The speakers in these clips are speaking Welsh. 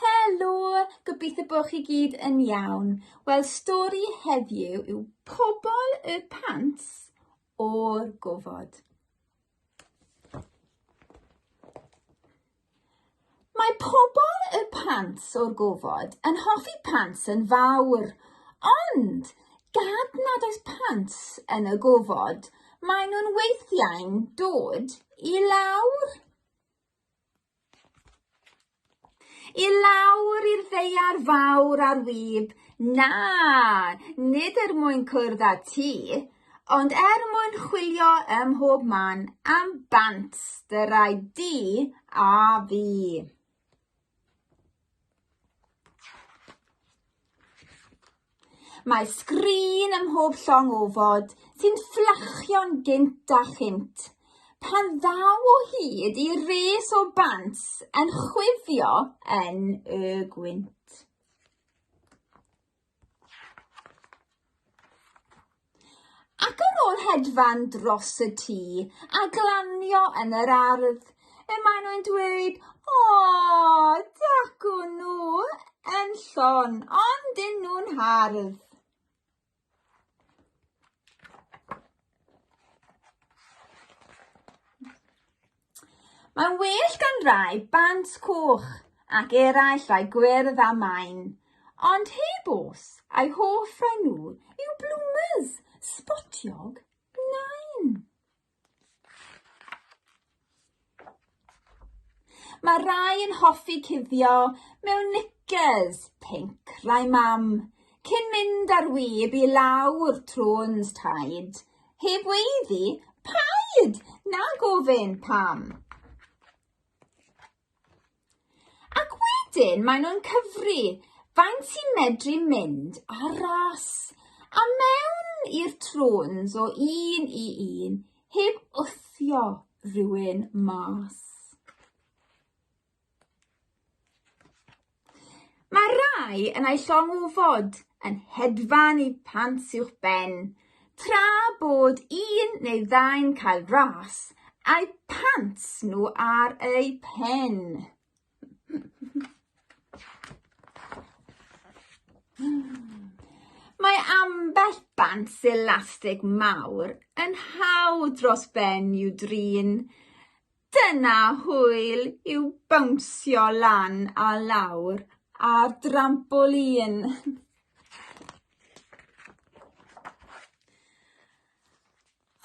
Helo! Gobeithio bod chi gyd yn iawn. Wel, stori heddiw yw Pobol y Pant o'r Gofod. Mae pobol y pant o'r gofod yn hoffi pant yn fawr, ond gad nad oes pant yn y gofod, maen nhw'n weithiau'n dod i lawr. I lawr i'r ddeiar fawr ar wyb, na, nid er mwyn cwrdd â ti, ond er mwyn chwilio ym mhob man am bant dy rai di a fi. Mae sgrin ym mhob llong ofod sy'n fflachio'n gynt a chynt. Pan ddaw o hyd i res o bant yn chwifio yn y gwynt. Ac ar ôl hedfan dros y tŷ a glanio yn yr ardd, y maen nhw'n dweud, o, dacw nhw yn llon, ond dyn nhw'n hardd. Mae'n well gan rai bant coch ac eraill rai gwyrdd a main, ond heb os, a'i hoff rai nhw yw bloomers, sbotiog, nain. Mae rai yn hoffi cuddio mewn knickers, pink, rai mam, cyn mynd ar wyb i lawr trwns taid, Heb weiddi, paid! Na gofyn, pam? Ac wedyn maen nhw'n cyfri faint sy'n medru mynd ar ras a mewn i'r trôns o un i un heb wthio rhywun mas. Mae rhai yn ei llong o fod yn hedfan i pant uwch ben, tra bod un neu ddau'n cael ras a'u pant nhw ar eu pen. Mae ambell bant selastig mawr yn hawdd dros ben i'w drin, Dyna hwyl yw bownsio lan a lawr ar drampolin!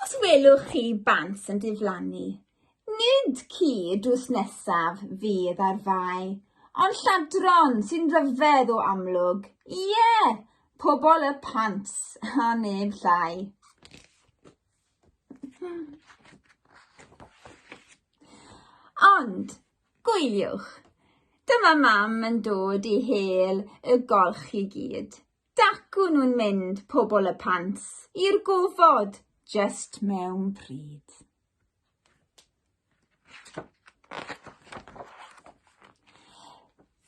Os welwch chi bant yn diflannu, nid ci drws nesaf fydd ar fai, ond lladron sy'n ryfedd o amlwg, ie, pobl y pant a neb llai. Ond, gwyliwch, dyma mam yn dod i hel y golch i gyd. Dacw nhw'n mynd, pobl y pants, i'r gofod, just mewn pryd.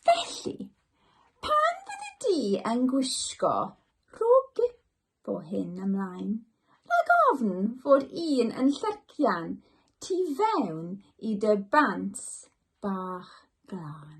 Felly, pan fyddi di yn gwisgo rhwg o hyn ymlaen, rhag ofn fod un yn llercian tu fewn i dy bants bach glân.